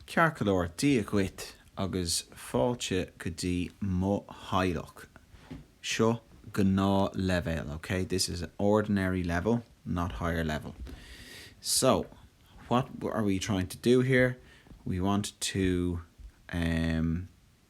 Ceart go leor, Dia dhuit agus fáilte go dtí mo theaghlach. Seo gnáthleibhéal, ok? This is an ordinary level, not higher level. So, what are we trying to do here? We want to, ehm,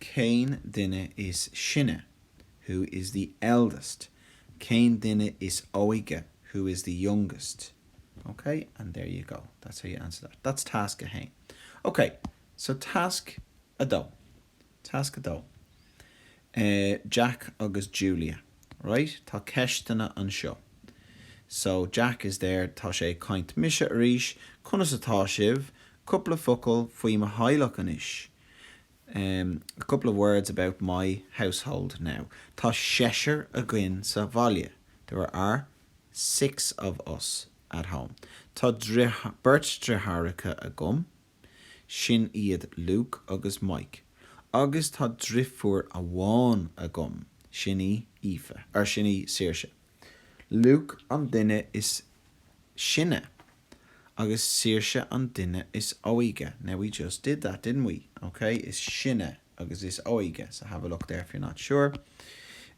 Cén duine is sine? Who is the eldest? Cén duine is óige? Who is the youngest? Ok, and there you go. That's how you answer that. That's task 1. Ok, so task 2. Task 2. Eh, Jack agus Julia. Right? Tá ceisteanna anseo. So, Jack is there, tá sé ag caint, Mise arís, conas atá sibh? Cúpla focal faoi mo theaghlach anois. Em, a couple of words about my household now, tá seisear againn sa bhaile, there are six of us at home, tá beirt deartháireacha agam, sin iad Luke agus Mike, agus tá deirfiúr amháin agam, sin í Aoife, or sin í Saoirse, Luke an duine is sine. agus saoirse an duine is óige. Now we just did that, didn't we? OK? Is sine agus is óige. So have a look there if you're not sure.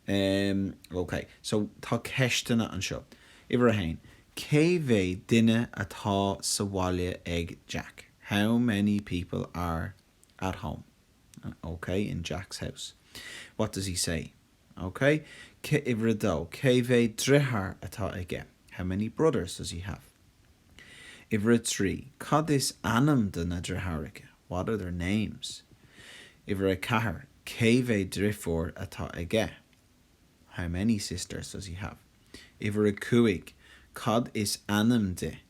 Um, OK. So tá ceisteanna anseo. Uimhir a haon, cé mhéad duine atá sa bhaile ag Jack? How many people are at home, OK, in Jack's house? What does he say? OK, uimhir a dó? Cé mhéad deartháir atá aige? How many brothers does he have? Uimhir a trí, cad is ainm do na deartháireacha? What are their names? Uimhir a ceathair, cé mhéad deirfiúr atá aige? How many sisters does he have? Uimhir a cúig, cad is ainm di?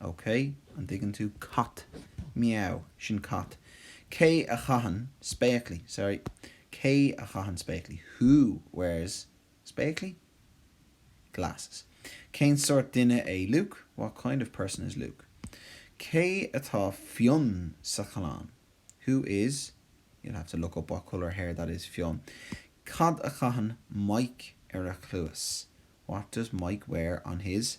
OK, an dtuigeann tú? Cat. Meow. Sin cat. Cé a chaitheann spéaclaí? Sorry. Cé a chaitheann spéaclaí? Who wears spéaclaí? Glasses. Cén sórt duine é Luke? What kind of person is Luke? Cé atá fionn sa chlann? Who is You'll have to look up what colour hair that is fionn. Cad a chaitheann Mike ar a chluas? What does Mike wear on his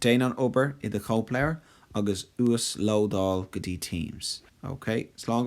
Déan an obair i do chóipleabhar agus uaslódáil go dtí Teams. OK? Slán go fóill.